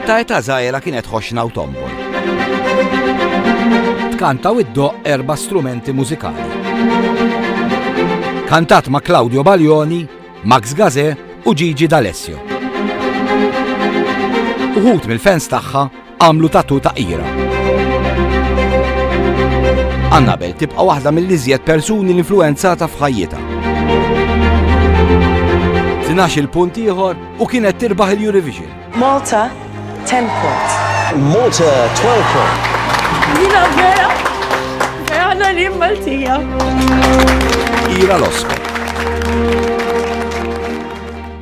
Ta' età żgħira kienet ħoxna u tombol. Tkanta u ddoqq erba' strumenti mużikali. Kantat ma' Claudio Baglioni, Max Gazzè u Gigi D'Alessio. Uħud mill-fans tagħha Għamlu tatu ta' qira. Annabel tibqa' waħda mill-iżjed persuni l-influenzata f'ħajjitha. Tinax il-punt ieħor u kienet tirbaħ il-Eurovision. Malta 10 points. Malta 12 points. Jina vera, għana li Maltija. Ira l-Oscar.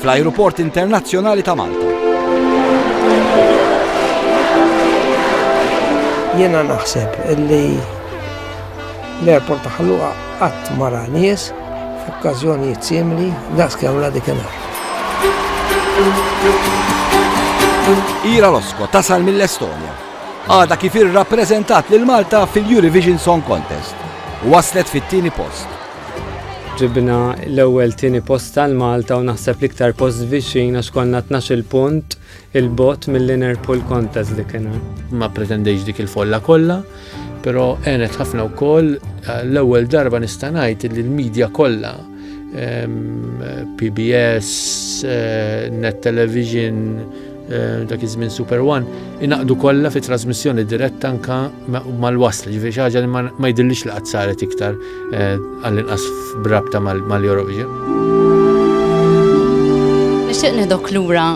fl-Ajruport Internazzjonali ta' Malta. Jiena naħseb li l-airport ta' Ħalluqa qatt mara nies f'okkażjonijiet simili daqs kemm la dik Ira Losko tasal mill-Estonja. Għada kif irrappreżentat lil Malta fil-Eurovision Song Contest. Waslet fit-tieni post. Ġibna l-ewwel tieni post għal Malta u naħseb l-iktar post viċin għax konna 12 punt il-bot mill-inner pool contest dik kien. Ma pretendejx dik il-folla kollha, però għenet ħafna wkoll eh, l-ewwel darba nista' ngħid li l-medja kollha PBS, eh, Net Television, Eh, dak iż-żmien Super One, inaqdu kollha fi trasmissjoni diretta anka mal-wasl, ġifieri xi ħaġa li ma jidillix li qatt saret iktar eh, għall-inqas brabta mal-Eurovision. Nixtieq nidok lura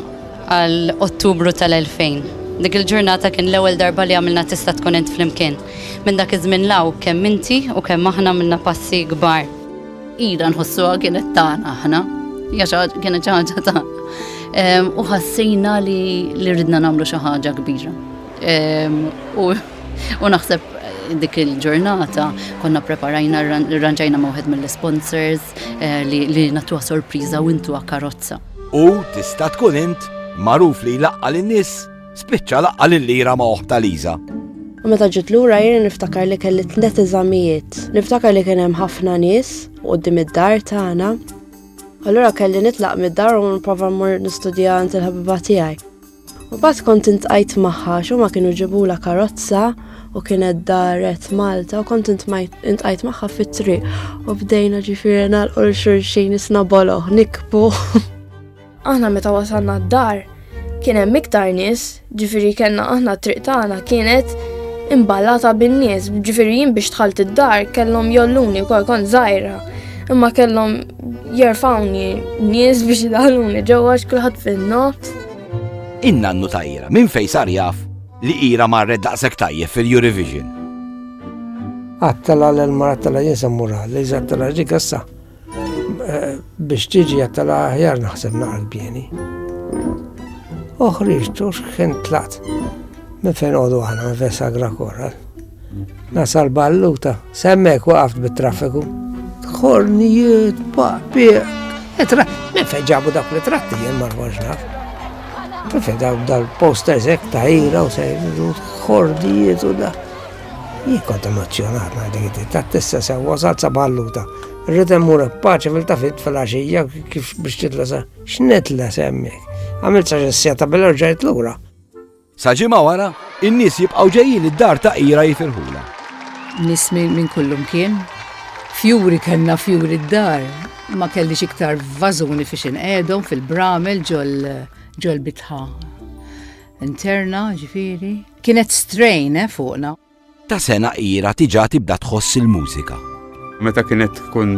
għal Ottubru tal-2000. Dik il-ġurnata kien l-ewwel darba li għamilna tista' tkun int flimkien. Minn dak iż-żmien law kemm inti u kemm aħna minna passi kbar. Ila nħossuha kienet tagħna aħna, kienet xi ħaġa tagħna. U ħassejna li ridna nagħmlu xi ħaġa kbira. U naħseb dik il-ġurnata konna preparajna rranġajna ma' wieħed mill-sponsors eh, li natuha sorpriża u intuha karozza. U tista' tkun int magħruf li laqqa lin-nies Spiċċa laqqa' lil Ira ma' oħta Liża. U meta ġiet lura jiena niftakar li kelli tnet eżamijiet. Niftakar li kien hemm ħafna nies quddiem id-dar tagħna. Allura kelli nitlaq mid-dar u nipprova mmur nistudja għand il-ħabiba tiegħi. U bat kont intqajt maħħa, xo ma kienu ġibula karozza u kienet daret Malta u kont intqajt maħħa fit-triq u bdejna ġifiri nal-qol xurxin isna boloħ, nikbu. Aħna meta wasalna d-dar kien hemm iktar nies, ġifieri kellna aħna triq tagħna kienet imballata bin-nies, ġifieri jien biex tħalt id-dar kellhom jolluni wkoll kont żgħira. Imma kellhom jerfawni nies biex idaluni ġewwa x'kulħadd fin-nofs. Inna nnu tajra, minn fejn sar jaf li ira marret daqshekk tajjeb fil-Eurovision. Għattala l-marattala jinsa mura, li ġattala ġigassa. Biex tiġi għattala ħjar naħseb naqra l-bjeni. Oħriġ tux kien tlaqt minn fejn għodu għana vesa grakora. Nasal balluta, semmek waqaft bit-traffiku. Kornijiet, papi, etra, minn fejn ġabu dak li tratti jien marwaġ naf. Minn fejn dal-posters ek ta' ira u sejdu, kornijiet u da. Jien kont emozzjonat ngħid dik it-tip, tat tissa sew wasalt sa bħalluta. Rrid immur b'paċi fil-tafit fil-għaxija kif biex titlesa. X'nitlesa hemmhekk? Għamilt sa xi siegħa ta' bil rġajt lura. Sa ġimgħa wara, in-nies jibqgħu ġejjin id-dar ta' Ira jifirħulha. Nies minn kullimkien. Fjuri kellna fjuri d-dar. Ma kellix iktar vażuni fiex inqegħedhom fil-bramel ġol-bitħa interna, ġifieri. Kienet strain, eh, fuqna. Ta' sena ira tiġa tibda tħoss il-mużika. Meta kienet tkun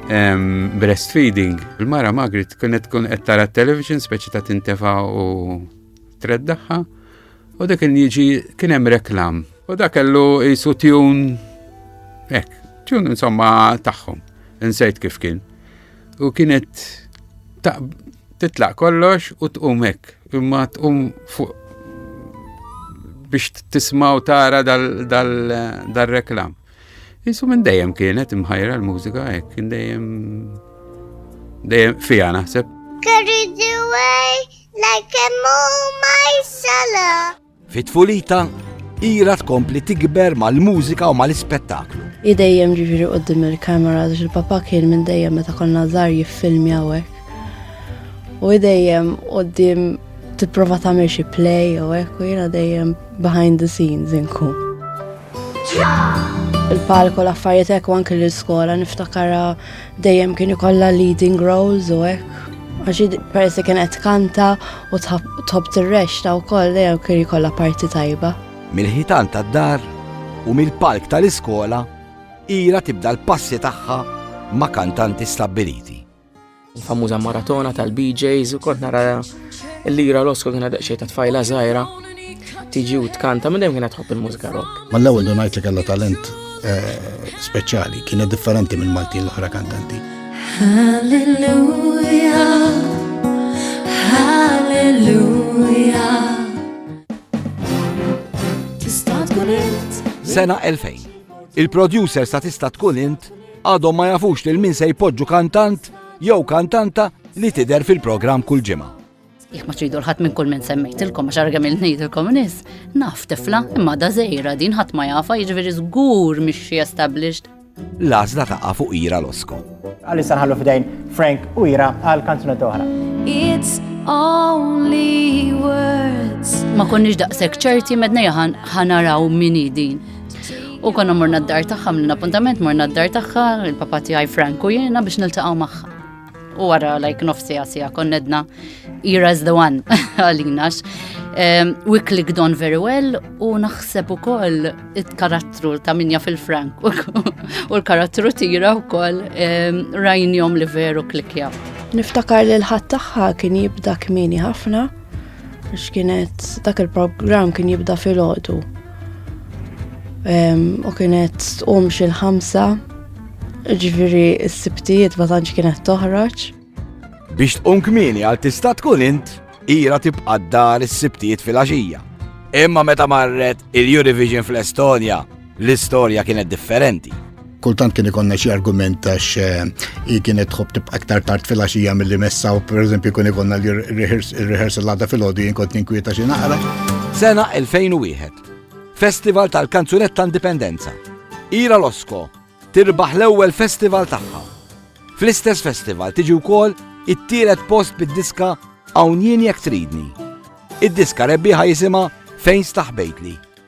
breastfeeding, il-mara Magrit kienet tkun qed tara television speċi ta' tintefa u treddaħħa u dak kien jiġi kien hemm reklam. U dak kellu jisu tjun hekk, tjun insomma tagħhom. Insejt kif kien. U kienet titlaq kollox u tqum hekk, imma tqum fuq biex tismaw tara dal-reklam. Isu minn dejjem kienet imħajra l-mużika hekk, kien dejjem dejjem fija naħseb. Carried away like a moonlight solo. Fi tfulita, Ira tkompli tikber mal-mużika u mal-ispettaklu. I dejjem ġiġri qoddim il-kamera għax il-papa kien minn dejjem meta konna żgħar jiffilmi hawnhekk. U dejjem qoddim tipprova tagħmel xi play u hekk u jiena dejjem behind the scenes inkun. Il-palko l-affarijiet hekk u anke l-iskola niftakara dejjem kien ikollha leading roles u hekk. Għax persi kienet kanta U tħobb tirrexta wkoll dejjem kien jkollha parti tajba. Mill-ħitan tad-dar u mill-palk tal-iskola ira tibda l-passi tagħha ma' kantanti stabbiliti. Il-famuża maratona tal-BJs u kont nara l-lira l-osko kien għadha xejn ta' tfajla żgħira. tiġi u tkanta minn dejjem kienet tħobb il-mużika rock. Ma l-ewwel dun ngħid li kellha talent eh, speċjali, kienet differenti minn Maltin l-oħra kantanti. Halleluja, halleluja. Tista' tkun int. Sena 2000. Il-producer sa tista' tkun int għadhom ma jafux lil min se jpoġġu kantant jew kantanta li tidher fil-programm kull ġimgħa. Jekk ma tridu l-ħadd minn kull minn semmejtilkom għax arga minn ngħidilkom nies, naf tifla imma da żejra din ħadd ma jafa jiġifieri żgur mixxi established. L-għażla taqa' fuq Ira Losko. Għalissa nħallu f'dejn Frank u Ira għal kanzunet oħra. It's only words. Ma konniex daqshekk ċerti medna jaħan ħanaraw min din. U konna morna d-dar tagħha minn appuntament morna d-dar tagħha, il-papa tiegħi Frank u jiena biex niltaqgħu magħha. U għara like nofsi għasija konnedna Ira is the one għalinax. Um, we clicked on very well u naħseb u koll it-karattru ta' minja fil-frank u l-karattru tira u koll um, rajnjom li veru klikja. Niftakar li l-ħat taħħa kien jibda kmini ħafna Għax kienet dak il-programm kien jibda fil-ħodu. U kienet tqum xil ħamsa ġviri s-sibtijiet ma tantx kienet toħroġ. Biex tqum kmini għal tista' tkun int, ira tibqa' dar is-sibtijiet fil-għaxija. Imma meta marret il-Eurovision fl-Estonja, L-istorja kienet differenti. Kultant kien ikonna xi argument għax eh, hi kienet tħobb tibqa' aktar tard fil-għaxija milli messa u pereżempju kien ikonna li rehearsal għadha fil-għodu jien kont ninkwieta xi naqra. Sena 2001. Festival tal-Kanzunetta Indipendenza. Ira Losko tirbaħ l-ewwel festival tagħha. Fl-istess festival tiġi wkoll it-tielet post bid-diska Hawn jien jekk tridni. Id-diska rebbieħa jisimha Fejn staħbejtli.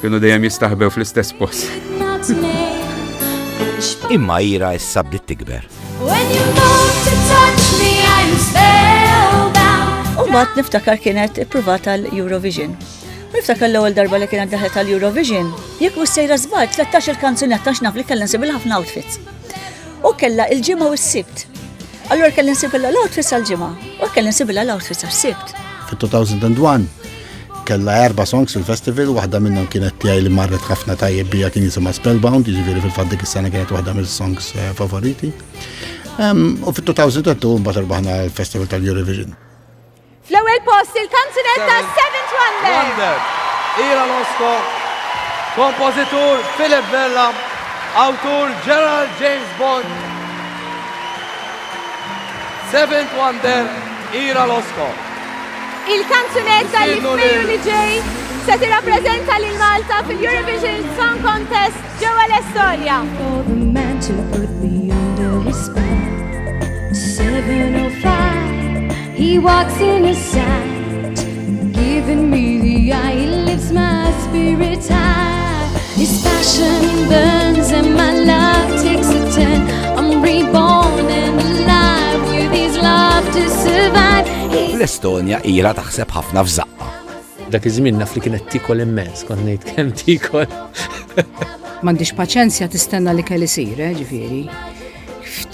Kienu dejjem jistaħbew fl-istess post. Imma ira issa bdiet tikber. U mbagħad niftakar kienet ippruvat għal Eurovision. Niftakar l-ewwel darba li kienet daħlet għal Eurovision, jekk mhux sejra żball 13 il-kanzunetta x'naf li kellha nsib ħafna outfits. U kellha il-ġimgħa u s-sibt. Allura kellha nsib l-outfits għal-ġimgħa u kellha nsib l-outfits għas-sibt. Fit-2001 Kella erba' songs fil-festival, waħda minnhom kienet tiegħi li marret ħafna tajjeb bija kien jisimha Spellbound, jiġifieri fil-fatt dik is-sena kienet waħda mill-songs eh, favoriti. U fit-2002 mbagħad irbaħna l-Festival tal-Eurovision. Fl-ewwel post il-kanzunet ta' Seventh Wonder. Ira Losko, kompożitur Philip Vella, awtur Gerald James Bond. Seventh Wonder, Ira Losko. Il-kanzunetta li f'Mejju li ġej se tirrappreżenta lil Malta fil-Eurovision Song Contest ġewwa l-Estonja. He walks in a sight, giving me the eye, he lifts my L-Estonja ira taħseb ħafna f'żaqqa. Dak iż-żmien naf li kienet tikol immens, kont ngħid kemm tikol. M'għandix paċenzja tistenna li kelli sir, eh, ġifieri.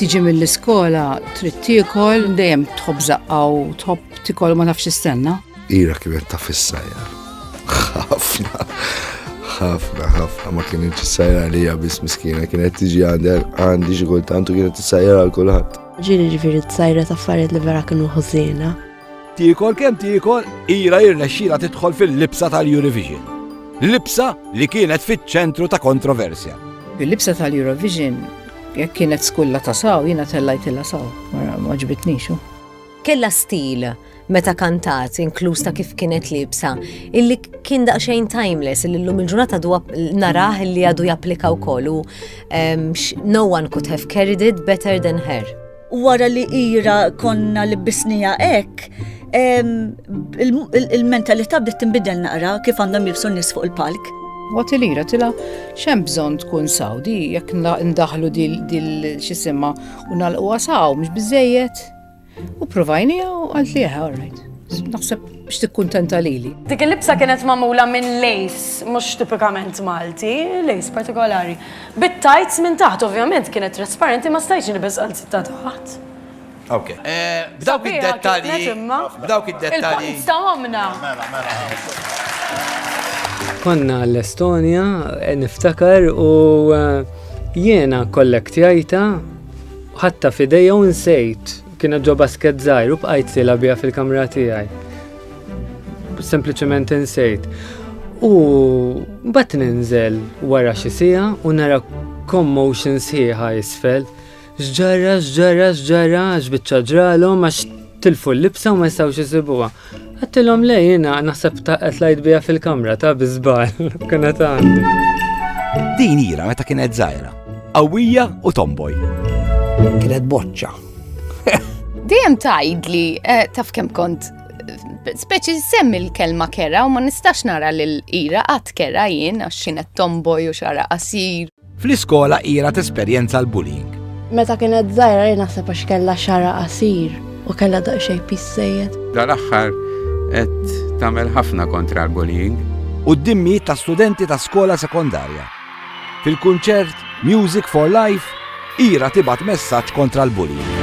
Tiġi mill-iskola trid tikol dejjem tħobb żaqqa u tħobb tikol ma nafx istenna. Ira kienet ta' fissajja. Ħafna, ħafna, ħafna ma kienet t-sajra li bis miskina, kienet tiġi għandi xi kultant u kienet t-sajra għal kulħadd. Ġiri ġifiri t-sajra ta' affarijiet li vera kienu ħużina. Tiekol kemm tiekol, ira irnexxila tidħol fil-libsa tal-Eurovision. Libsa li kienet fiċ-ċentru ta' kontroversja. Il-libsa tal-Eurovision jekk kienet skulla ta' saw, jiena tellajtilla saw, ma ġbitnixu. Kella stil meta kantat, inkluż ta' kif kienet libsa, illi kien daqsxejn timeless, illi llum il-ġurnata narah illi għadu japplika wkoll u no one could have carried it better than her. Wara li ira konna li bisnija hekk, il-mentalità bdiet tinbidel naqra kif għandhom jibsu nies fuq il-palk. Waqt li ira tila xem bżonn tkun sawdi jekk ndaħlu dil xisimma u nalquha saw mhux biżejjed. U provajnija u għalt li jaha, all right. Naħseb biex tikkuntenta lili. Dik il-libsa kienet mamula minn lejs mhux tipikament Malti, lejs partikolari. Bit-tajts minn taħt ovvjament kienet trasparenti ma stajtx nibes għal ta' taħt. Ok. Eh, b'dawk id-dettalji. B'dawk id-dettalji. Sta mamna. Mela, mela. Konna l-Estonja, eh, niftakar u eh, jiena kollektjajta Ħatta f'idejja u nsejt, kienet ġo basket żgħir u bqajt sila biha fil-kamra tiegħi. Sempliċement insejt. U mbagħad ninżel wara xi sija u nara commotion sħiħa isfel. X'ġarra, x'ġarra, x'ġarra, x'biċċa ġralhom għax tilfu l-libsa u ma jistgħux isibuha. Għattilhom le jiena naħseb ta' qed lajt biha fil-kamra ta' biżbal. Kena ta' Din ira meta kienet żgħira, qawwija u tomboj. Kienet boċċa. Dejjem tgħid li eh, taf kemm kont speċi semmi l-kelma kera u ma nistax nara l-ira għat kera jien għax xienet tomboj u xara qasir. Fl-iskola ilha tesperjenza l-bullying. Meta kienet żgħira jien naħseb għax kellha xara qasir u kellha daqsxejn pissejjed. Dal-aħħar qed tagħmel ħafna kontra l-bullying. Quddiem mijiet ta' studenti ta' skola sekondarja. Fil-kunċert Music for Life, Ira tibgħat messaġġ kontra l-bullying.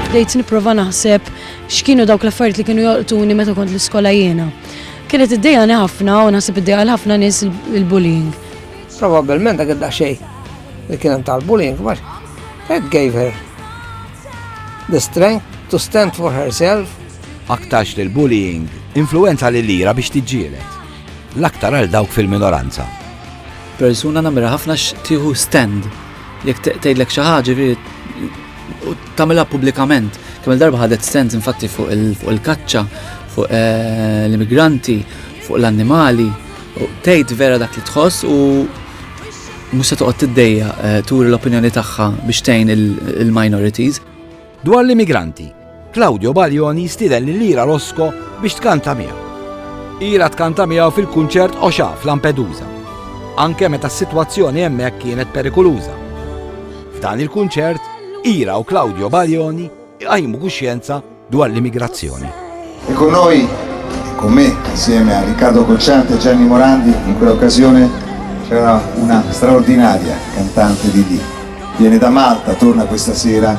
Bdejt nipprova naħseb X'kienu dawk l-affarijiet li kienu jolqtuni meta kont l-iskola jiena? Kienet iddejjaqni ħafna u naħseb iddejjaq ħafna nies il-bullying. Probabbilment dak id-daqsxejn li kien hemm tal-bullying ma it gave her the strength to stand for herself. Aktarx li l-bullying influenza li lira biex tiġġielet. L-aktar għal dawk fil-minoranza. Persuna namira ħafna x'tieħu stand. Jekk tgħidlek xi ħaġa U tagħmilha pubblikament. Kemm darba ħadet stands infatti fuq il-kaċċa, fuq eh, l-immigranti, fuq l-annimali, u tgħid vera dak li tħoss u mhux se toqgħod tiddejja eh, turi l-opinjoni tagħha biex tgħin il-minorities. Dwar l-immigranti, Claudio Baglioni jistieden lil Ira Rosco biex tkanta miegħu. Ira tkanta miegħu fil-kunċert Oxa f'Lampedusa, anke meta s-sitwazzjoni hemmhekk kienet perikuluża. F'dan il-kunċert, Ira u Claudio Baglioni jqajmu kuxjenza dwar l-immigrazzjoni. E con noi, con me, insieme a Riccardo Cocciante e Gianni Morandi, in quell'occasione c'era una straordinaria cantante di lì. Viene da Malta, torna questa sera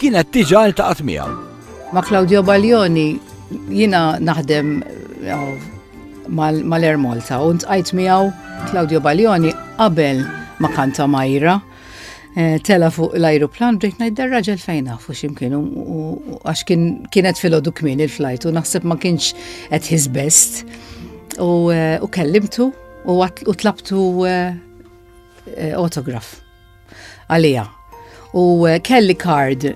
Kienet diġà ltaqgħet miegħu. Ma' Claudio Baglioni jiena naħdem mal-Air Malta u ntqajt miegħu Claudio Baglioni qabel ma kanta Majra eh, tela fuq l-ajruplan bdejt ngħid dar-raġel fejn nafu x'imkien għax kienet filgħodu kmin il-flajt u naħseb ma kienx qed his best u eh, kellimtu u tlabtu eh, autograf. għaliha. U eh, kelli kard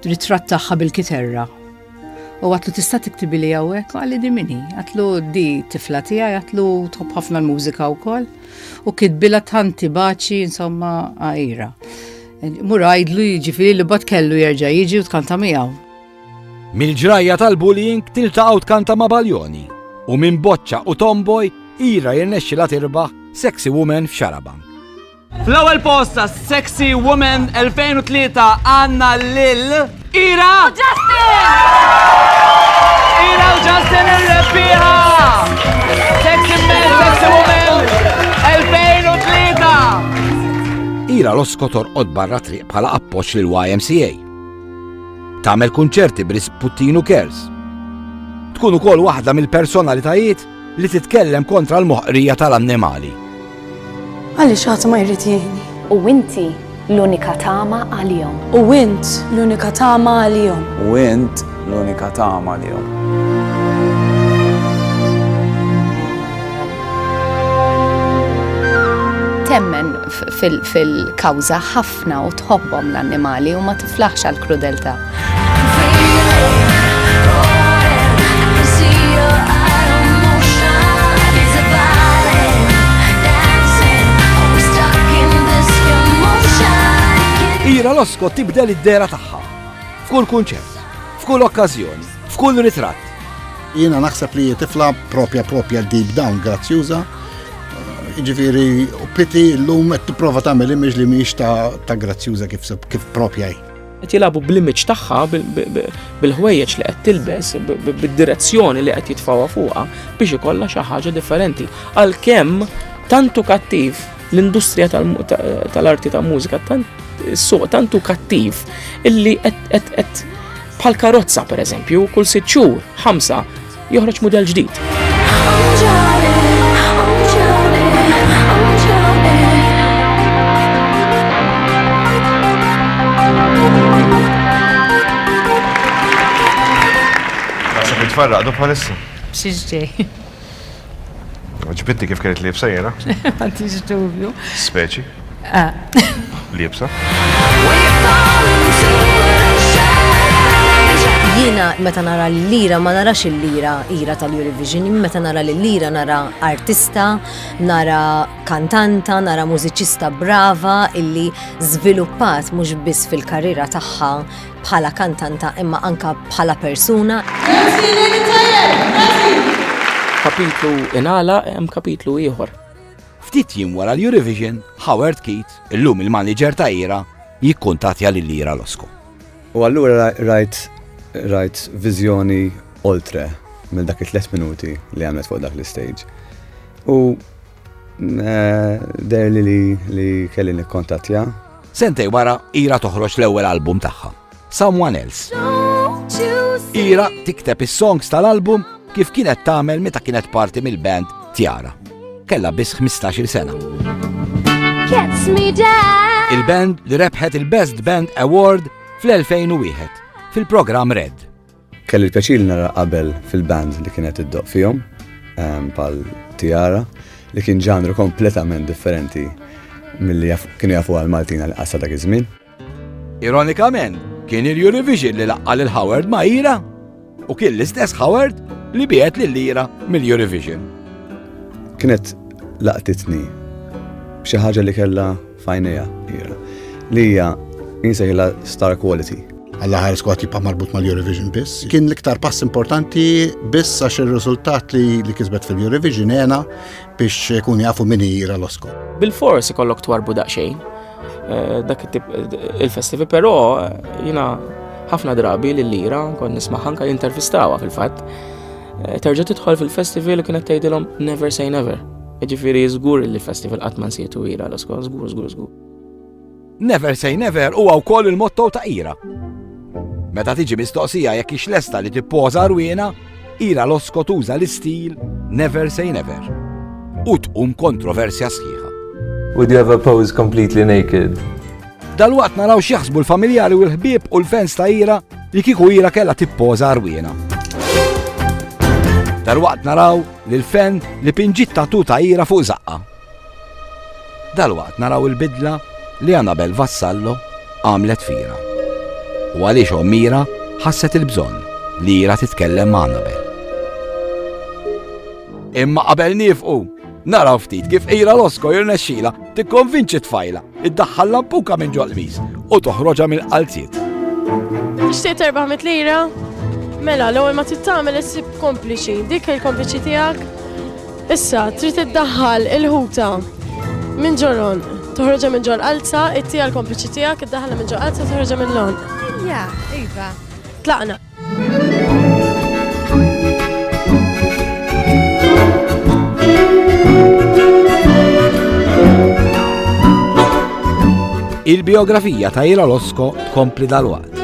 ritratt tagħha bil-kiterra. U għatlu tista' tiktibi li għawek, għalli di minni, għatlu di tifla tija, għatlu tħobb ħafna l-mużika u koll, u kitbila tanti baċi, insomma, għajra. Mur għajdlu jiġifiri li bat kellu jerġa jiġi u tkanta miegħu. Mil-ġrajja tal-bullying tiltaqgħu tkanta ma' baljoni u minn boċċa u tomboy ira jirnexxi la tirbaħ sexy woman f'xarabank. Fl-ewwel post ta' Sexy Woman 2003 għandna lil Ira u Justin! Ira u Justin ir-rebbieħa! Sexy Man, Sexy Woman 2003! Ira l-oskotor qod barra triq bħala appoġġ lil YMCA. Tagħmel kunċerti b'risputtinu kers. Tkun ukoll waħda mill-personalitajiet li titkellem kontra l-moħqrija tal-annimali. Għaliex ħadd ma jrid jgħinni. U inti l-unika tama għalihom. U int l-unika tama għalihom. U int l-unika tama għalihom. Temmen fil-kawża ħafna ħafna u tħobbhom l-annimali u ma tiflaħx għall-krudeltà. Ira Losko tibdel id-dera tagħha. F'kull kunċert, f'kull okkażjoni, f'kull ritratt. Jiena naħseb li tifla propja propja deep down grazzjuża. Ġifieri u piti llum qed tipprova tagħmel image li mhix ta' grazzjuża kif kif propja hi. Qed jilagħbu bl-image tagħha bil-ħwejjeġ li qed tilbes, bid-direzzjoni li qed jitfawha fuqha biex ikollha xi ħaġa differenti. Għalkemm tantu kattiv l-industrija tal-arti ta' mużika tant suq tantu kattiv illi qed Bħal karozza pereżempju, kull sitt xhur, ħamsa, joħroġ mudell ġdid. Naħseb nitfarraq do bħalissa. Xiex ġej. Ġbitni kif kienet libsa jena? Għantix dubju. Speċi. Ah. Libsa. Jina meta nara l-lira ma narax il-lira ira tal-Eurovision, meta nara l-lira nara artista, nara kantanta, nara mużiċista brava illi żviluppat mhux biss fil-karriera tagħha bħala kantanta imma anka bħala persuna. Kapitlu inala hemm kapitlu ieħor. Ftit jiem wara l-Eurovision, Howard Keat, illum il-manager ta' Ira, jikkuntatja lil Ira Losko. U allura rajt rajt viżjoni oltre minn dak it-tlet minuti li għamlet fuq dak l-istage. U Dejr li li kelli nikkontattja. Sentej wara, Ira toħroġ l-ewwel album tagħha, Someone Else. Ira tikteb is-songs tal-album kif kienet tagħmel meta kienet parti mill-band Tiara. Kella biss 15-il sena. Il-band li rebħet il-Best Band Award fl-2001 fil-programm Red. Kelli l-pjaċir li nara qabel fil-band li kienet iddoq fihom, ehm, pal Tiara, li kien ġanru kompletament differenti mill-li kienu jafu għal Maltina li qassa dak iż-żmien. Ironikament, kien il-Eurovision li laqqa lil Howard ma' Ira u kien l-istess Howard li biet lil Ira mill-Eurovision. Kienet laqtitni b'xi ħaġa li kellha f'għajnejha hija li hija insejħilha star quality. Alla ħares kwat jibqa' marbut mal-Eurovision biss. Kien l-iktar pass importanti biss għax ir-riżultat li, li kisbet fil-Eurovision għena biex kun jafu min jira l-Oscar. Bil-fors ikollok twarbu daqsxejn eh, dak il-festivi, però eh, jina ħafna drabi li l-lira kon nisma' ħanka jintervistawa fil-fatt. Eh, terġa' tidħol fil-festival u kienet tgħidilhom never say never. Ġifieri żgur li festival qatt ma nsietu ira l-oskor, żgur, żgur, żgur. Never say never huwa wkoll il-motto ta' ira. Meta tiġi mistoqsija jekk ix lesta li tippoża rwiena, ira l-osko tuża l-istil never say never. U tqum kontroversja sħiħa. Would you ever pose completely naked? Dal-waqt naraw xieħsbu l-familjari u l-ħbib u l-fans ta' ira li kiku ira kella tippoza arwina. Dal-waqt naraw Lil Fenn li pinġiet tattoo ta' ira fuq żaqqha. Dalwaqt naraw il-bidla li Anabel Vassallo għamlet fira. U għaliex omm Ira ħasset il-bżonn li Ira titkellem ma' Anabel. Imma qabel nifqu, naraw ftit kif Ira Losko jirnexxila tikkonvinċi tfajla Iddaħħal lampuka minn ġol qmis u toħroġha mill-qalziet. Xtiet 400 lira? Mela, l-ewwel ma tittamel issib kompliċi, dik il-kompliċi tiegħek. Issa, trid iddaħħal il-ħuta minn ġoron, toħroġa minn ġol qalza, ittija l-kompliċi tiegħek, iddaħħalha minn ġol qalza, toħroġa minn lon. Ja, iva. Tlaqna. Il-biografija ta' Ila Losko tkompli dal-waqt.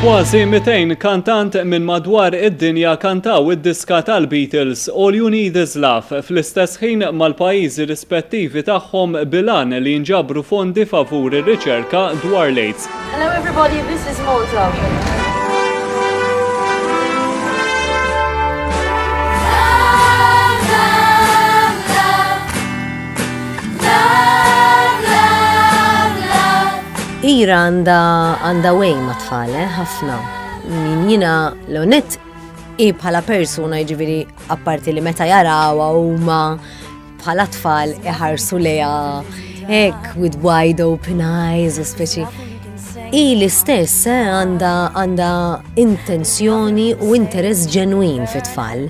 Kważi 200 kantant minn madwar id-dinja kantaw id-diska tal-Beatles All You Need Is Love fl-istess ħin mal-pajjiżi rispettivi tagħhom bilan li jinġabru fondi favur ir-riċerka dwar l-AIDS. Hello everybody, this is Malta. Ira għanda għanda way ma tfale, eh, ħafna. Min jina l-onet i bħala persuna ġiviri apparti li meta jarawa u ma bħala tfal iħarsu leja ek with wide open eyes u speċi. I l-istess eh, għanda għanda intenzjoni u interess ġenwin fit tfal.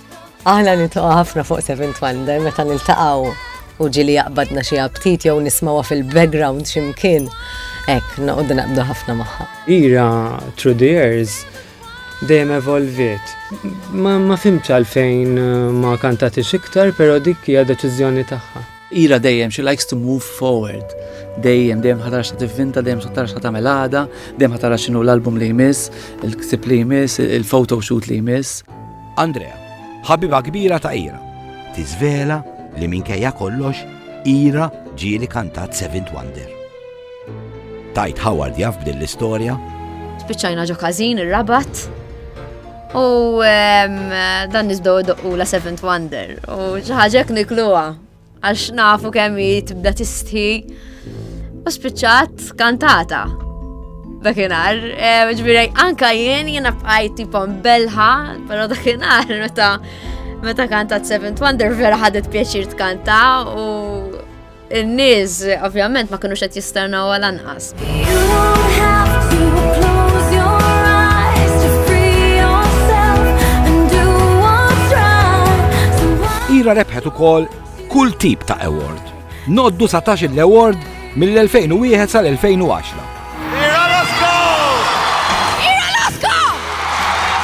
Aħna nitqgħu ħafna fuq Seventh Wonder meta niltaqgħu u ġili jaqbadna xi aptit jew nismawha fil-background x'imkien. Hekk noqogħdu naqbdu ħafna magħha. Ira through the years dejjem evolviet. Ma, ma fimx għalfejn eh, ma kantatix iktar, però dik hija deċiżjoni tagħha. Ira dejjem she likes to move forward. Dejjem, dejjem ħatara xa tivvinta, dejjem ħatara xa tagħmel għada, dejjem ħatara x'inhu l-album li jmiss, il-ksib li jmiss, il-photo shoot li jmiss. Andrea, ħabiba kbira ta' Ira, tiżvela li minkejja kollox Ira ġieli kantat Seventh Wonder. Tajt Howard jaf b'din l-istorja? Spiċċajna ġo każin ir-Rabat. U dan nizdow doqqu la Seventh Wonder u ġaħġek nikluwa għax nafu kemm tibda tistħi u spiċċat kantata. Dakinar, eh, ġbiraj, anka jien jien bqajt tipom belħa, pero dakinar meta meta kantat Seventh Wonder vera ħadet pjaċir tkanta u In-nies ovvjament ma kinux qed jisternaw għal anqas. Ira rebħet ukoll kull tip ta' award. Noddu satax l-award mill-2001 sal-2010.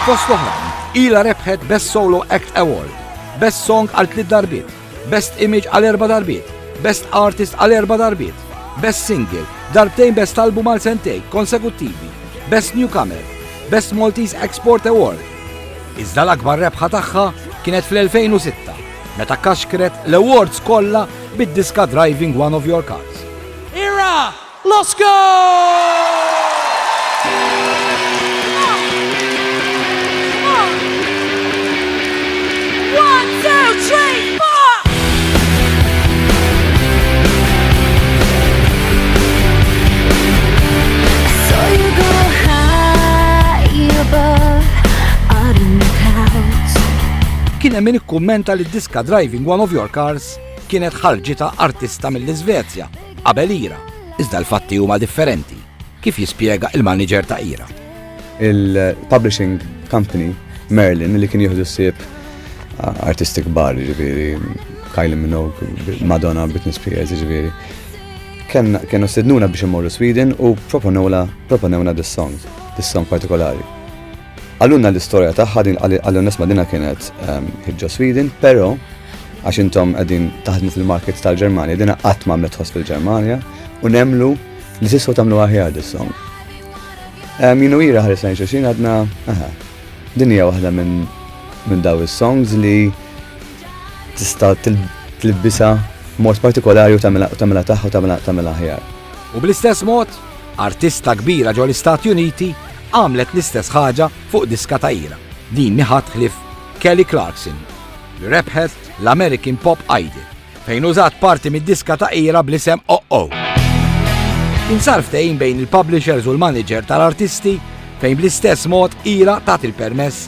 Fost oħrajn, ila rebħet Best Solo Act Award, Best Song għal tliet darbiet, Best Image għal erba' darbiet, Best Artist għal erba' darbiet, Best Single, darbtejn Best Album għal sentej konsekuttivi, Best Newcomer, Best Maltese Export Award. Iżda l-akbar rebħa tagħha kienet fl-2006 meta kaxkret l-awards kollha bid-diska Driving One of Your Cars. Ira! Kien hemm min ikkummenta li d-diska Driving One of Your Cars kienet ħarġitha artista mill-Iżvezja Qabel Ira, iżda l-fatti huma differenti, kif jispjega il-maniġer ta' Ira. Il-publishing company Merlin li kien jieħdu ssib artisti kbar, ġifieri Kylie Minogue, Madonna, Britney Spears, ġifieri. Kienu sidnuna biex immorru Sweden u proponewna dis-song, dis-song partikolari. Qalulna l-istorja tagħha din għall-onest ma' dinha kienet ehm, ħiġġa Sweden, però għax intom qegħdin taħdmu fil-markets tal-Ġermanja, dinha qatt ma għamlet ħoss fil-Ġermanja u nemlu li tistgħu tagħmlu aħjar dis-song. Ehm, Jinu ira ħares lejn xulxin għadna, aha, din hija waħda minn minn daw is-songs li tista' tilbisa mod partikolari u tagħmilha tagħmilha tagħha u tagħmilha tagħmilha aħjar. U bl-istess mod, Artista kbira ġo l-Istati Uniti għamlet l-istess ħaġa fuq diska ta' ira. Din mi ħadd ħlief Kelly Clarkson li rebħet l-American Pop Idol fejn użat parti mid-diska ta' ira bl-isem OO. Insar ftehim bejn il-publishers u l-manager tal-artisti fejn bl-istess mod ira tat il-permess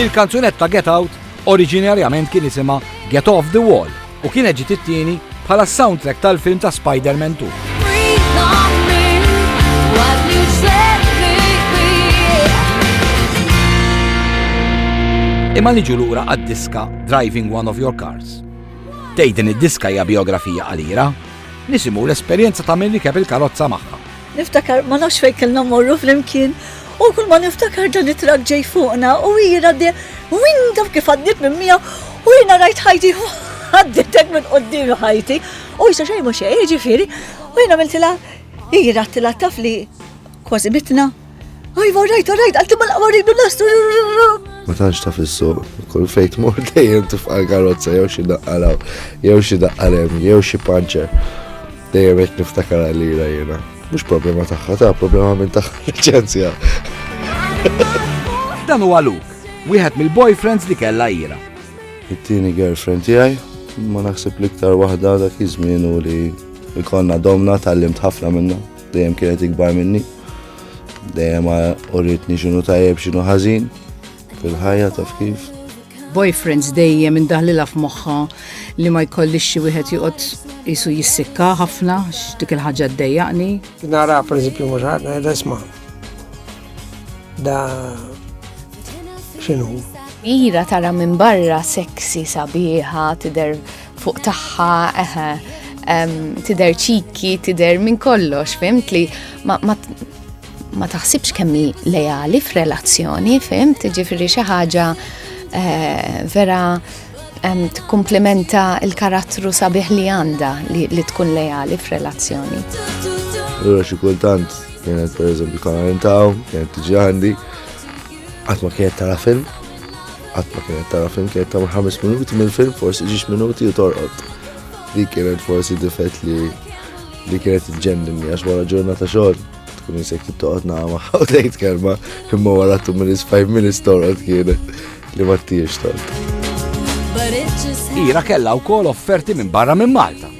Il-kanzunetta Get Out oriġinarjament kien isimha Get Off the Wall u kienet ġiet it-tieni bħala s-soundtrack tal-film ta' Spider-Man 2. Imma niġu lura għad-diska Driving One of Your Cars. Tgħid din id-diska hija biografija qalira, nisimgħu l-esperjenza ta' min rikeb il-karozza magħha Niftakar ma nafx fejn kellna mmorru flimkien u kull ma niftakar dan it-trak ġej fuqna u hi għaddej win taf kif għaddiet minn miegħu u jiena rajt ħajti għaddietek minn qudiem ħajti u jisa xejn mhux xejn jiġifieri u jiena miltilha hi rattilha taf li kważi mitna. Ajva rajt rajt għalti mal-qawwa rridu nastu. Ma tantx taf is-suq, kull fejn tmur dejjem tifqa' karozza jew xi daqqalaw, jew xi daqqalem, jew xi panċer. Dejjem qed niftakar għalira jiena. Mhux problema tagħha, ta' problema minn tagħha liċenzja. Dan huwa Luke, wieħed mill-boyfriends li kellha ira. It-tieni girlfriend tiegħi, ma naħseb l-iktar waħda dak iż-żmien u li jkollna domna tal-limt ħafna minna, dejjem kienet ikbar minni. Dejjem uritni x'inhu tajjeb x'inhu ħażin. Fil-ħajja taf kif? Boyfriends dejjem indaħlilha f'moħħa li ma jkollix xi wieħed joqgħod jisu jissikka ħafna x'dik il-ħaġa ddejjaqni. Nara pereżempju mhux ħadd ngħidha isma' da x'inhu. Ira tara minn barra seksi sabiħa tidher fuq tagħha eħe tidher ċiki, tidher minn kollox, fimtli ma ma taħsibx kemm hi lejali f'relazzjoni, fim, tiġifieri xi ħaġa eh, vera tikkumplimenta il-karattru sabiħ li għandha li tkun lejali f'relazzjoni. Allura xi kultant kienet pereżempju karantaw, kienet tiġi għandi, qatt ma kienet tara film, qatt ma kienet tara film, kienet tagħmel ħames minuti mill-film, forsi ġiex minuti u torqod. Dik kienet forsi difett li li kienet iġġenni għax wara ġurnata xogħol Tkun jisek t-toqot naħma, u tgħid kelma, imma wara tu minn isfaj minn istorot kienet li ma tiex tort. Ira kella u kol offerti minn barra minn Malta.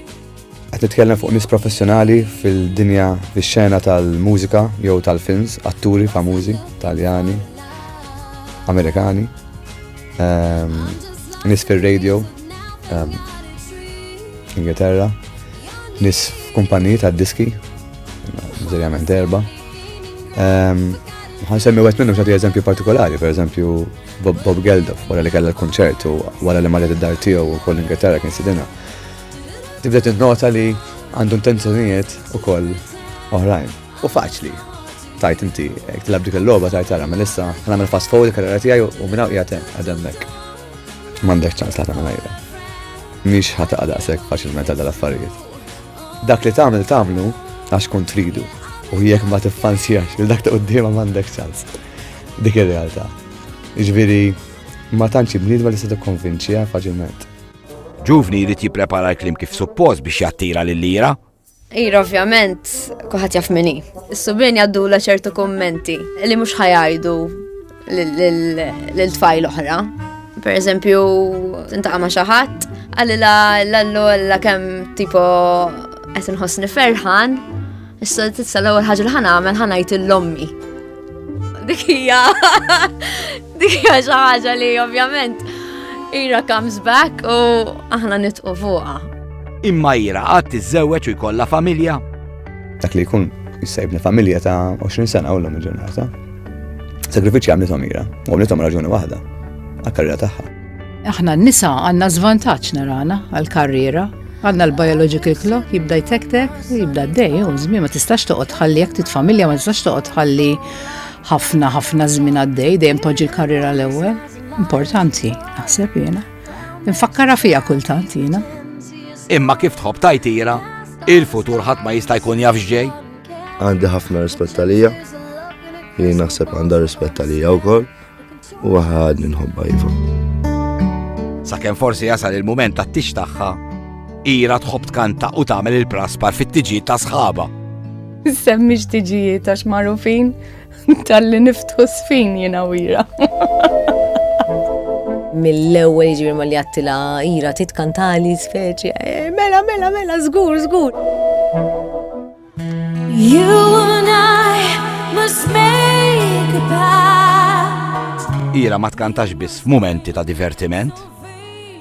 Għat nitkellem fuq nis professjonali fil-dinja fil-xena tal-mużika jew tal-films, atturi famużi, taljani, amerikani, ehm, nis fil-radio, ehm, Ingilterra, nis f'kumpaniji ta' diski Sinċerament erba. Ehm, Għan semmi għet minnu xati eżempju partikolari, per eżempju Bob Geldof, wara li kalla l-konċert u wara li marret id-dar tiegħu u koll Ingilterra kien sidina. Tibda tinnota li għandu intenzjonijiet u koll oħrajn. U faċli, tajt inti, jek tilab dik il-loba tajt għara, ma lissa għamil fast forward karriera tijaj u minna u jgħatem għademmek. Mandek ċans la ta' għajra. Miex ħata għadaqsek faċilment għadal affarijiet. Dak li tagħmel tagħmlu għax kun tridu u jekk ma tiffansjax il dak ta' quddiema m'għandek ċans. Dik ir-realtà. Ġifieri ma tantx bniedma li se tikkonvinċiha faċilment. Ġuvni jrid jipprepara l-klim kif suppost biex jattira lil lira. Ira ovvjament kuħat jaf minni. Is-subien jaddu la ċertu kommenti li mhux ħajajdu lil tfajl oħra. Per eżempju, intaqa' ma' xi ħadd, għalila l-allu għalila kemm tipo qed inħossni ferħan, issa titsa l-ewwel ħaġa li ħanagħmel ħanajt l-ommi. Dik hija dik hija xi ħaġa li ovvjament ira comes back u aħna nitqu fuqha. Imma ira qatt tiżżewweġ u jkollha familja? Dak li jkun jissajbni familja ta' 20 sena u l-lum il-ġurnata. Sagrifiċċji għamlithom ira, u għamlithom raġuni waħda, għal-karriera tagħha. Aħna n-nisa għandna żvantaġġ narana għal-karriera, għandna l-biological clock jibda jtektek, jibda d-dej, u żmien ma tistax toqgħod ħalli jekk titfamilja ma tistax toqgħod ħalli ħafna ħafna żmien għaddej, dejjem poġġi l-karriera l-ewwel. Importanti, naħseb jiena. Infakkara fija kultant jiena. Imma kif tħobb tajtira, il-futur ħadd ma jista' jkun jaf x'ġej. Għandi ħafna rispett għalija, li naħseb għandha rispett għalija wkoll u għad nħobba jifu. Sakemm forsi jasal il-mument ta' tix tagħha, ira tħobb tkanta u tagħmel il-praspar fit-tiġijiet ta' sħaba. Semmi x'tiġijiet għax magħrufin Talli niftħu sfin jina wira. Mill-ewwel jiġri ma li għattila ira titkantali speċi. Eh, mela, mela, mela, żgur, żgur. You and I must make a pact. Ira ma tkantax biss f'mumenti ta' divertiment,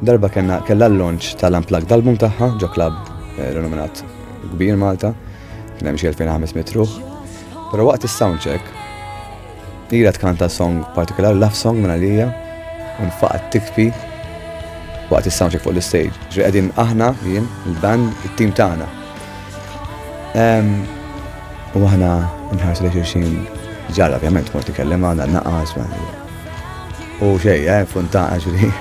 Darba kellna kellha l-launch tal-unplugged album tagħha ġo klabb eh, renominat kbir Malta, kien hemm xi 2500 ruħ. Però waqt is-soundcheck Ira tkanta song partikolar, love song minna lija, un faqat tikfi waqt il-soundcheck fuq l-stage. Ġri għedin aħna, jien, il-band, il-team taħna. U aħna nħarsu li xirxin ġara, ovvjament, mort ikellem għana, naqas, U xej, eh, funtana ġri.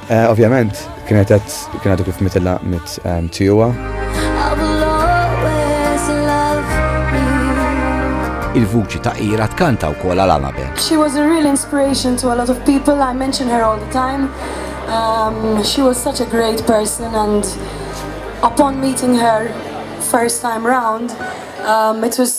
Eh, ovvjament, kienet kienet kif mitilla mit ehm, tijuwa. Il-vuċi ta' ira tkanta u kola l-Anabel. She was a real inspiration to a lot of people. I mention her all the time. Um, she was such a great person and upon meeting her first time round, um, it was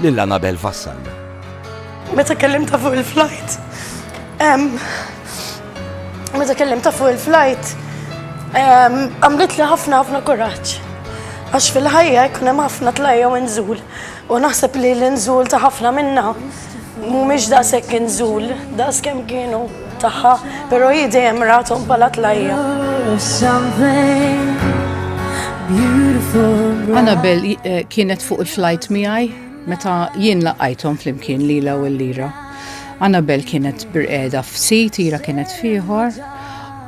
lil Anabel Vassallo. Meta kellimtha fuq il-flajt, meta kellimtha fuq il-flajt, għamlitli ħafna ħafna kuraġġ. Għax fil-ħajja jkun hemm ħafna tlajja u inżul. U naħseb li l-inżul ta' ħafna minna mhumiex daqshekk inżul, daqs kemm kienu. tagħha, però hi dejjem rathom bħala tlajja. Annabel eh, kienet fuq il-flight miegħi meta jien laqajthom flimkien lila u l-lira. Annabel kienet birqeda f'sit, ira kienet fieħor.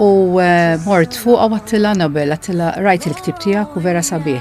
U eh, mort fuq għattila Annabel, għattila rajt il-ktib tijak u vera sabiħ.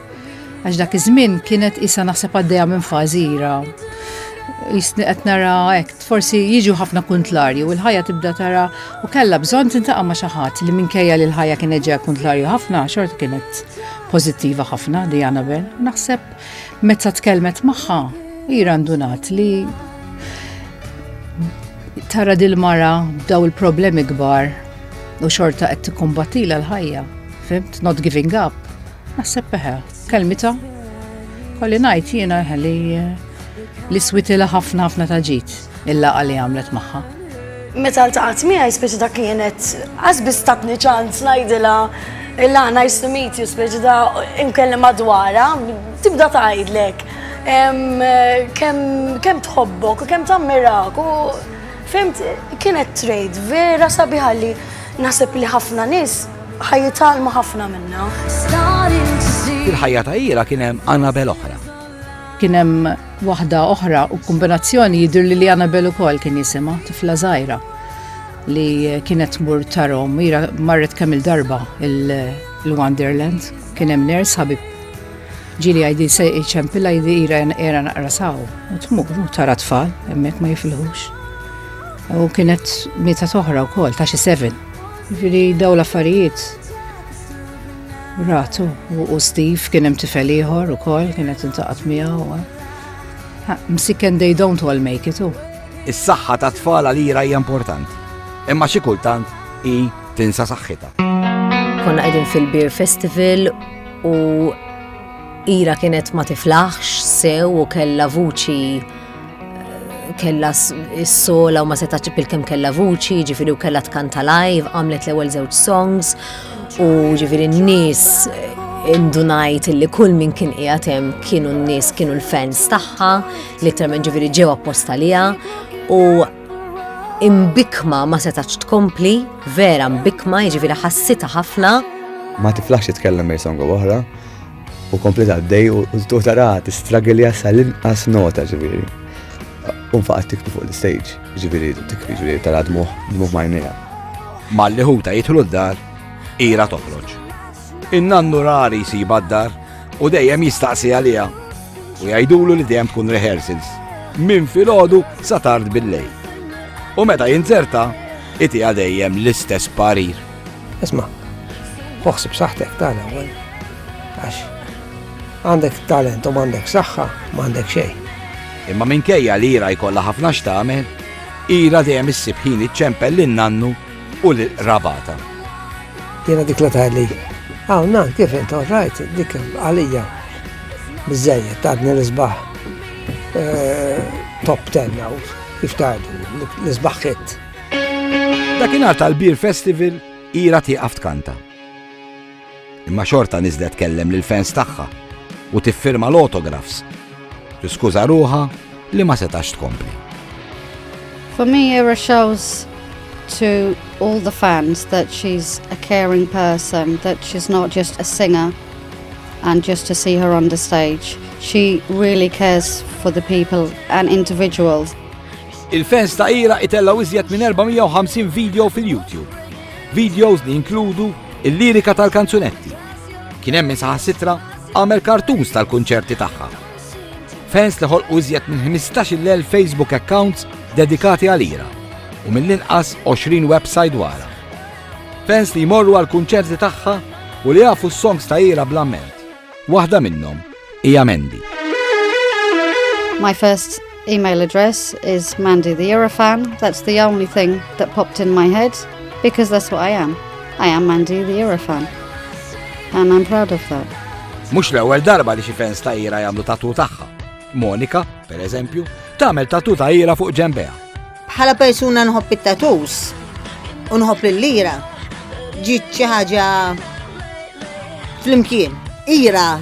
Għax dak iż-żmien kienet isa naħseb għaddejja minn fażi ira. Jisni qed nara hekk, forsi jiġu ħafna kuntlarju u l-ħajja tibda tara u kellha bżonn tintaqa' ma' xi ħadd li minkejja li l-ħajja kienet ġejja kuntlarju ħafna xorta kienet pożittiva ħafna di Annabel. Naħseb meta tkellmet magħha ira ndunat li tara dil-mara b'daw il-problemi kbar u xorta qed tikkumbattila l-ħajja. Fimt, not giving up. Naħseb eħe, kelmita. Kolli ngħid jiena eħe li li switila ħafna ħafna ta' ġid il-laqa li għamlet magħha. Meta ltaqgħet miegħi speċi dak kienet għaż biss tatni ċans ngħidilha illa nice to meet you speċi da imkellem madwara tibda tgħidlek kemm tħobbok u kemm tammirak u fimt kienet trade vera sabiħalli naħseb li ħafna nies Ħa jitgħallmu ħafna minnha. Fil-ħajja ta' Ira kien hemm Annabel oħra. Kien hemm waħda oħra u kombinazzjoni jidhir li li Annabel ukoll kien jisimha tifla żgħira li kienet mur tarom ira marret kemm il-darba il-Wonderland kien hemm ners ħabib ġili għajdi se iċempilla jdi ira era naqra saw u tmur u tara tfal hemmhekk ma jifilħux. U kienet meta toħra wkoll ta' xi seven. Ġifieri daw l-affarijiet ratu u Steve kien hemm tifel ieħor ukoll kienet intaqgħet miegħu. Msiken they don't all make it u. Is-saħħa ta' tfal għalira hija importanti, imma xi kultant hi tinsa saħħitha. Konna qegħdin fil-Beer Festival u Ira kienet ma tiflaħx sew u kella vuċi kella s-sola u ma seta ċipil kem kella vuċi, ġifiri u kella tkanta live, għamlet l-ewel zewċ songs u ġifiri n-nis indunajt li kull min kien qiegħatem kienu n-nies kienu l-fans tagħha li termen ġifiri ġew apposta liha u imbikma ma setax tkompli vera mbikma jiġifieri ħassita ħafna ma tiflax jitkellem mej songu oħra U komplet għaddej u tu tara tistragilja sal-inqas nota ġiviri. U faqat tiktu fuq l-stage, ġiviri, tikri ġiviri tara dmuħ, dmuħ majnija. Ma li ħuta jitħlu d-dar, ira toħroġ. In-nannu rari si baddar u dejjem jistaqsi għalija u jajdulu li dejjem tkun rehearsals minn filgħodu sa tard bil-lejl. U meta jinzerta, iti dejjem l-istess parir. Isma, uħsib saħtek tal ewwel għax għandek talent u m'għandek saħħa, m'għandek xejn. Imma minkejja li ira jkollha ħafna x'tagħmel, ira dejjem issib ħin iċċempel lin nannu u l rabata. Jiena dik la tali. Hawn nan kif int rajt dik għalija biżejjed tadni l-isbaħ eh, top 10 kif tgħidu l-isbaħ Dakinhar tal-Beer Festival ira tieqaf tkanta. Imma xorta niżlet kellem lil fans tagħha u tiffirma l-autographs. Tiskuża ruħa li ma setax tkompli. For me, Ira shows to all the fans that she's a caring person, that she's not just a singer and just to see her on the stage. She really cares for the people and individuals. Il-fans ta' Ira itellgħu iżjed minn 450 video fil-YouTube. Videos li jinkludu il-lirika tal-kanzunetti. Kien hemm min saħansitra għamel kartuns tal-kunċerti tagħha. Fans li ħolqu iżjed minn 15,000 Facebook accounts dedikati għal Ira u mill-inqas 20 website wara. Fans li jmorru għal kunċerti tagħha u li jafu s-songs ta' ira bl-amment. Waħda minnhom hija Mandy. My first email address is Mandy the Eurofan. That's the only thing that popped in my head because that's what I am. I am Mandy the Eurofan. And I'm proud of that. Mux l-ewwel darba li xi fans ta' ira jagħmlu tatu tagħha. Monika, per eżempju, tagħmel tatu ta' ira fuq ġembeha. Bħala persuna nħobb it-tatus u nħobb il-lira ġiet xi ħaġa flimkien. Ira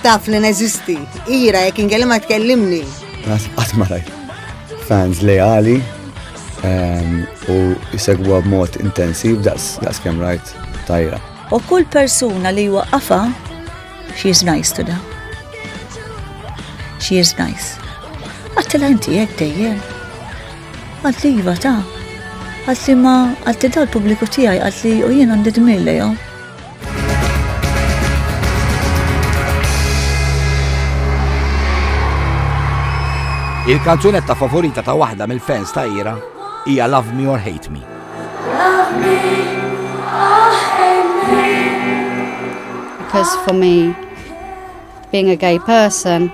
taf li neżisti, ira jekk inkellimha tkellimni. Qatt ma rajt fans leali ehm, u jsegwa b'mod intensiv daqs kemm rajt tajra. U kull persuna li waqafa She is nice to them. She is nice. Għattila inti jek dejjem. Għadli jiva ta' għadli ma għadli dal publiku tijaj għadli u jien għandi dmille jom. Il-kanzunetta favorita ta' waħda mill-fans ta' Ira hija Love Me or Hate Me. Because for me, being a gay person,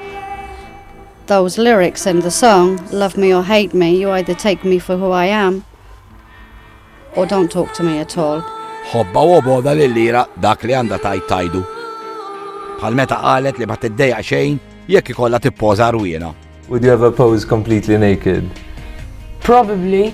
those lyrics in the song, love me or hate me, you either take me for who I am or don't talk to me at all. Hobba u oboda li lira dak li għanda tajt tajdu. Bħal meta qalet li ma tiddeja xejn jekk ikolla tippoza rwiena. Would you ever pose completely naked? Probably.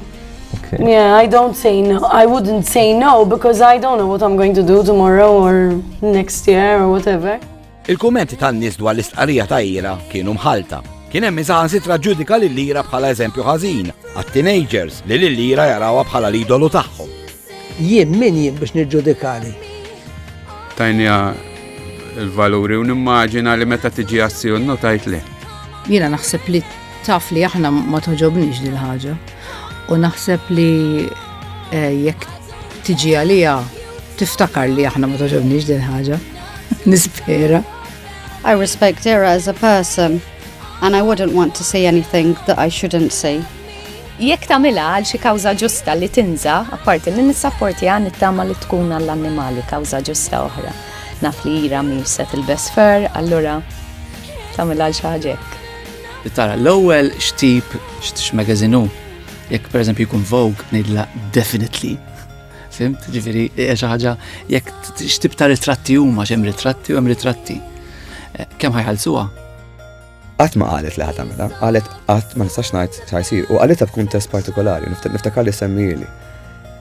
Okay. Yeah, I don't say no. I wouldn't say no because I don't know what I'm going to do tomorrow or next year or whatever. Il-kummenti tan-nies dwar l-istqarrija ta' Ira kienu mħalta. Kien hemm iżgħan sitra ġudika lil Ira bħala eżempju ħażin għat-teenagers li lil Ira jarawha bħala l-idolu tagħhom. Jien min jien biex niġġudikani? Tajniha l-valuri u nimmaġina li meta tiġi għassi u notajt li. Jiena naħseb li taf li aħna ma toġobniex dil ħaġa u naħseb li eh, jekk tiġi għalija tiftakar li aħna ma toġobniex dil ħaġa. Nispera. I respect her as a person and I wouldn't want to see anything that I shouldn't see. Jekk tagħmilha għal xi kawża ġusta li tinża, apparti li nissapportiha nittama li tkun għall-annimali kawża ġusta oħra. Naf li Ira mhix se tilbes fur, allura tagħmilha għal xi ħaġa hekk. Li tara l-ewwel x'tip x'magazin hu. Jekk pereżempju jkun Vogue ngħidilha definitely fimt, ġifiri, xi ħaġa jekk x'tib ta' ritratti huma x'hemm ritratti u hemm ritratti. Eh, kemm ħajħalsuha? Qatt ma qalet li ħa tagħmilha, qalet qatt ma nistax ngħid sa jsir u qalitha f'kuntest partikolari, niftakar li semmieli.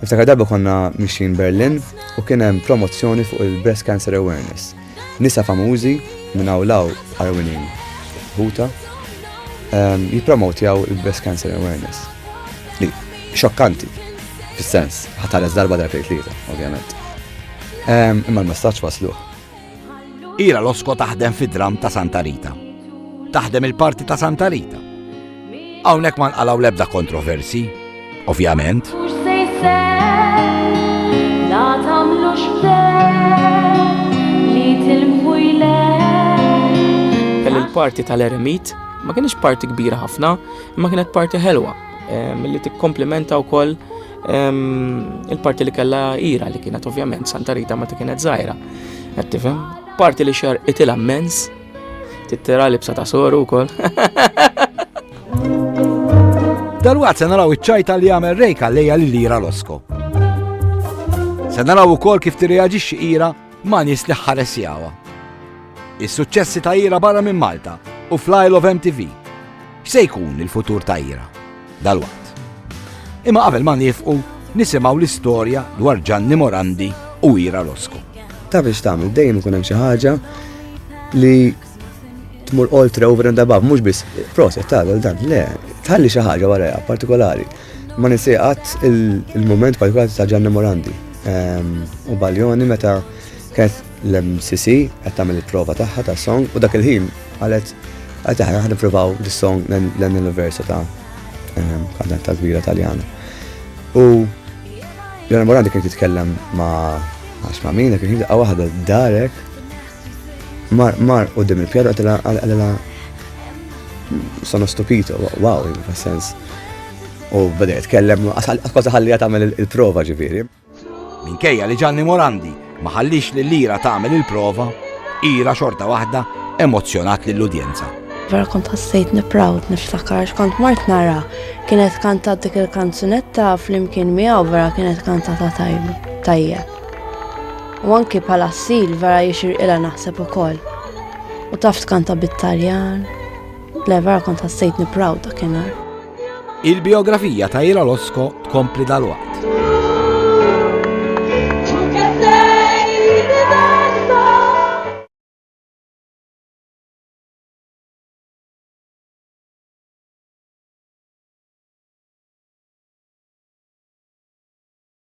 Niftakar darba konna mixin Berlin u kien hemm promozzjoni fuq il-breast cancer awareness. Nisa famużi minn hawn law arwinin ħuta ehm, jippromotjaw il-breast cancer awareness. Li xokkanti, fis-sens, ħatares darba darba tlieta, ovvjament. Ehm, imma l-messaġġ wasluh. Ira Losko taħdem fid-dramm ta' Santa Rita. Taħdem il-parti ta' Santa Rita. Hawnhekk ma nqalgħu l-ebda kontroversi, ovvjament. Il-parti tal-eremit ma kienx parti kbira ħafna, imma kienet parti ħelwa, eh, milli tikkomplimenta wkoll Il-parti li kellha ira li kienet ovvjament Santa Rita meta kienet żgħira. Qed tifhem? Parti li xar itilha mens, tittira libsa ta' soru wkoll. Dalwaqt se naraw iċ-ċajta li jagħmel rejka lejja li lira l-osko. Se naraw ukoll kif tirreaġixxi ira ma' nies li ħares jawa. Is-suċċessi ta' ira barra minn Malta u fl-Isle of MTV. X'se jkun il-futur ta' ira? dalwaqt. Imma qabel ma nifqu nisimgħu l-istorja dwar Ġanni Morandi u Ira Rosku. Ta' biex tagħmel dejjem ikun hemm xi ħaġa li tmur oltre over and above, mhux biss proset ta' dan, le, tħalli xi ħaġa wara partikolari. Ma nisieqat il-moment partikolari ta' Ġanni Morandi ehm, u Baljoni meta kienet L-MCC qed tagħmel il-prova tagħha tas-song u dak il-ħin qalet qed aħna ħa nippruvaw dis-song l-anniversa ta' kantanta kbira Taljana. U Leonor Morandi kien titkellem ma' għax ma' min, kien daqqa waħda darek mar mar u dim il-pjadu għatela għatela sono stupito, wow, in sens. U bada jitkellem, għasqaza ħalli għatamel il-prova ġifiri. Minkejja li Gianni Morandi ma ħalliex lil Ira tagħmel il-prova, Ira xorta waħda emozzjonat lill-udjenza. Vera kont ħassejtni proud niftakar x'kont mort nara kienet kantat dik il-kanzunetta flimkien miegħu vera kienet kantata tajjeb. U anki bħala ssil vera jixir ila naħseb ukoll. U taf tkanta bit-Taljan, Le vera kont ħassejtni proud dakinhar. Il-biografija ta' Ila Losko tkompli dal-waqt.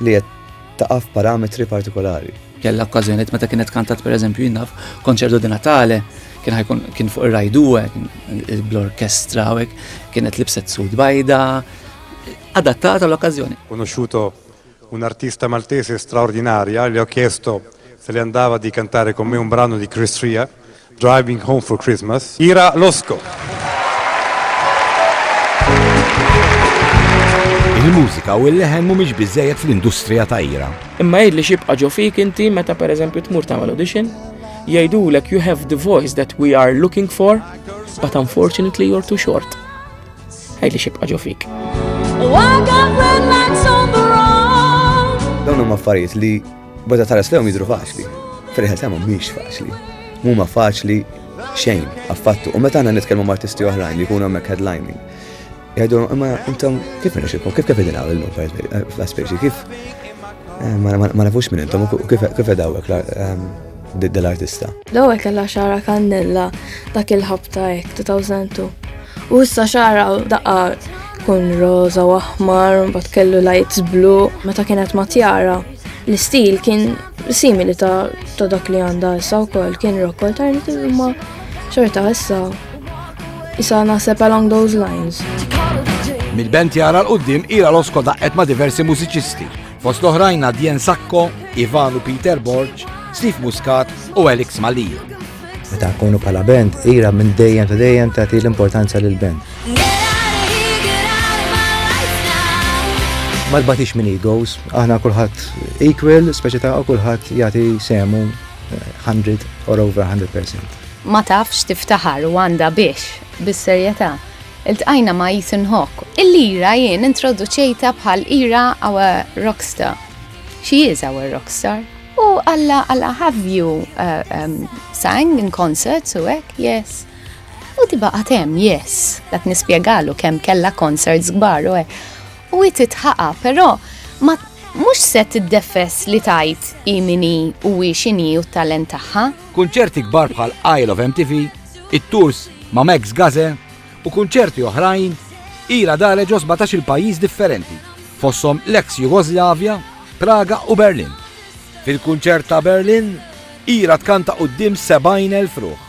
li qed taqa' f'parametri partikolari. Kellha okkażjonijiet meta kienet kantat pereżempju jinnaf konċertu di Natale kien ħajkun kien fuq ir-rajdu bl-orkestra u kienet libset sud bajda adattata l-okkażjoni. Conosciuto un artista maltese straordinaria, le ho chiesto se le andava di cantare con me un brano di Chris Ria, Driving Home for Christmas, Ira Losco. Il-mużika u l-leħen mhumiex biżejjed fl-industrija ta' Ira. Imma jgħidli xibqa' ġo fik inti meta pereżempju tmur tagħmel audition, jgħidulek you have the voice that we are looking for, but unfortunately you're too short. Għajli xibqa ġo fik. Dawn huma affarijiet li Bada tara slewm jidru faċli. Fil-ħel tagħhom mhix faċli. Mhuma faċli xejn affattu. U meta aħna nitkellmu ma' artisti oħrajn li jkunu hemmhekk headlining. Jgħidu, imma intom kif nixilkom, kif kif idin għamilnu fl-aspeċi, kif eh, ma nafux minn intom u kif edawek ehm, dell-artista. Dawek kella xara kannella dak il-ħabta ek 2002. U issa xara daqqa kun roza u aħmar, bat kellu lights blu, meta kienet matjara. L-istil kien simili ta', ta dak li għandha issa wkoll kien rock alternative imma xorta issa issa naħseb along those lines. Mill-band jara l-qoddim ira l-osko daqqet ma' diversi mużiċisti, fost l-oħrajn Dien Sakko, Ivan u Peter Borg, Steve Muscat u Alex Malija. Meta kunu pala band, ira minn dejjem ta' dejjem tagħti l-importanza lil band. Ma tbatix minn egos, aħna kulħadd equal, speċi ta' kulħadd jagħti semu 100 eh, or over 100%. Ma tafx tiftaħar u għandha biex, bis-serjetà iltqajna ma' Ethan Hawke. Il-lira jien introduċejta bħal ira our rockstar. She is our rockstar. U alla alla have you uh, um, sang in concerts u hekk, yes. U di baqgħet hemm, yes, dak nispjegalu kemm kellha concerts kbar u u hi titħaqa, però ma mhux se tiddefess li tajt hi mini u hi x'inhi u t-talent tagħha. Kunċerti kbar bħal Isle of MTV, it-tours ma' Max Gaze u kunċerti oħrajn ila dare ġo 17 il-pajjiż differenti, fosthom l-eks Jugoslavja, Praga u Berlin. Fil-kunċert ta' Berlin, ila tkanta quddiem 70,000 ruħ.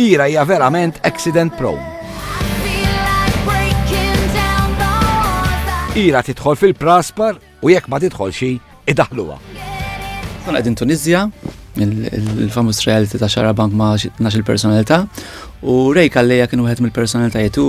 Ira hija verament accident prone. Ira tidħol fil-praspar u jekk ma tidħol xi idaħluha. Kun qegħdin Tunizja, il-famus reality ta' xara bank ma' nax il-personalità u Ray Kalleja kien wieħed mill-personalitajiet u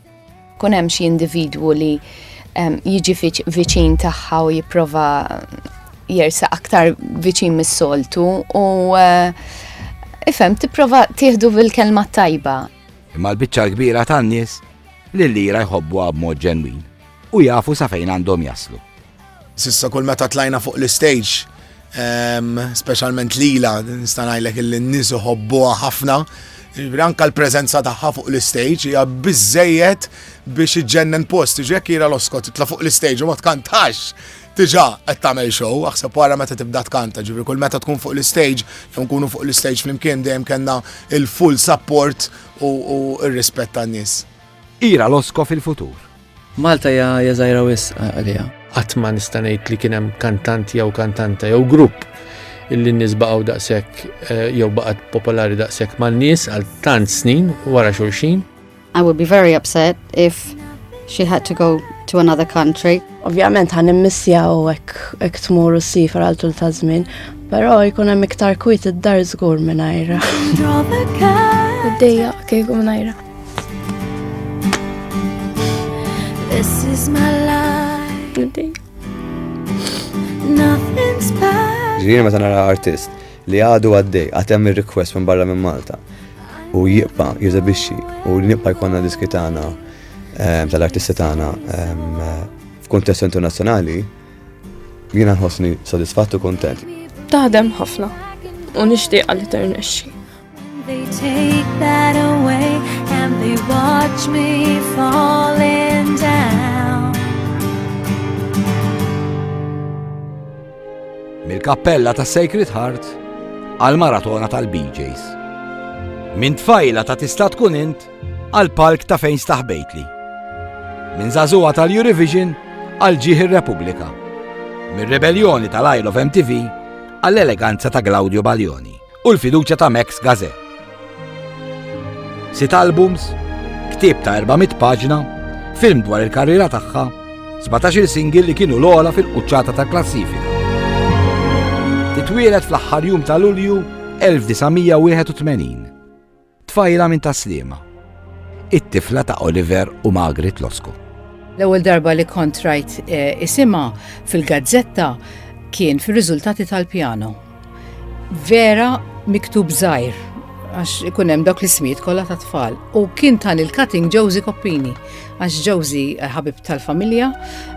Kun hemm xi individwu li jiġi viċin tagħha u jipprova jersa aktar viċin mis-soltu u eh, ifhem tipprova tieħdu bil-kelma tajba. Imma l-biċċa l-kbira tan-nies li l-lira jħobbuha b'mod ġenwin u jafu sa fejn għandhom jaslu. Sissa kull meta tlajna fuq l-istage, ehm, specialment lila, nista' ngħidlek illi n-nies iħobbuha ħafna. Anka l-preżenza tagħha fuq l-istage hija biżejjed biex iġġennen post. Ġek ira l-oskot titla' fuq l-istage u ma tkantax Tiġa, qed tagħmel show, aħseb wara meta tibda tkanta, ġifieri kull meta tkun fuq l-istage, jew nkunu fuq l-istage flimkien dejjem kellna il-full support u r-rispett tan-nies. Ira Losko fil-futur. Malta hija żgħira wisq għaliha. Qatt ma nista' ngħid li kien hemm kantant jew kantanta jew grupp illi n-nies baqgħu daqshekk eh, jew baqgħet popolari daqshekk mal-nies għal tant snin wara xulxin. I would be very upset if she had to go to another country. Ovvjament ħan immissja u hekk tmur u sifar għal tul ta' żmien, però jkun hemm iktar kwit id-dar żgur mingħajra. Dejja kieku mingħajra. This is my life. Nothing's bad. Ġiri meta nara artist li għadu għaddej għatem il-request minn barra minn Malta u jibqa jizabixxi u li nibqa jkonna diski tagħna ehm, tal-artisti tagħna ehm, f'kuntest internazzjonali jiena nħossni sodisfattu kontent. Taħdem ħafna u nixtieq li ternexxi. They take that away and they watch me falling down. Mill-kappella ta' Sacred Heart għal maratona tal-BJs. Minn tfajla ta' tista' tkun int għal palk ta' fejn staħbejtli. Minn zazuwa tal-Eurovision għal ġieħ ir-Repubblika. Mir-rebelljoni tal-Isle of MTV għall-eleganza ta' Claudio Baljoni. u l-fiduċja ta' Max Gazzè. Sitt albums, ktieb ta' 400 paġna, film dwar il-karriera tagħha, 17-il singil li kienu l-ogħla fil-quċċata ta' klassifika. Titwielet fl-aħħar jum ta' Lulju 1981. Tfajla minn Tas-Sliema. It-tifla ta' Oliver u Magrit Losku. L-ewwel darba li kont rajt isimha fil-gazzetta kien fir-riżultati tal-pjano. Vera miktub żgħir għax ikun hemm dawk l-ismijiet kollha tat-tfal. U kien tan il-cutting Josie Koppini, għax Josie eh, ħabib tal-familja,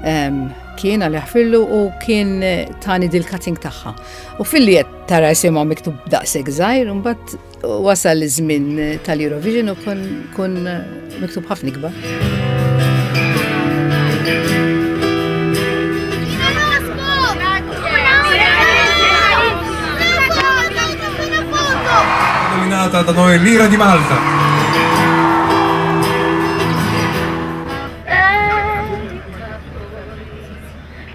ehm, kien għal ħfirlu u kien eh, tani dil-cutting tagħha. U filli qed tara jisimha miktub daqshekk żgħir, imbagħad Wasal iż-żmien tal-Eurovision u kun miktub ħafna ikbar. Malta da noi l'ira di Malta.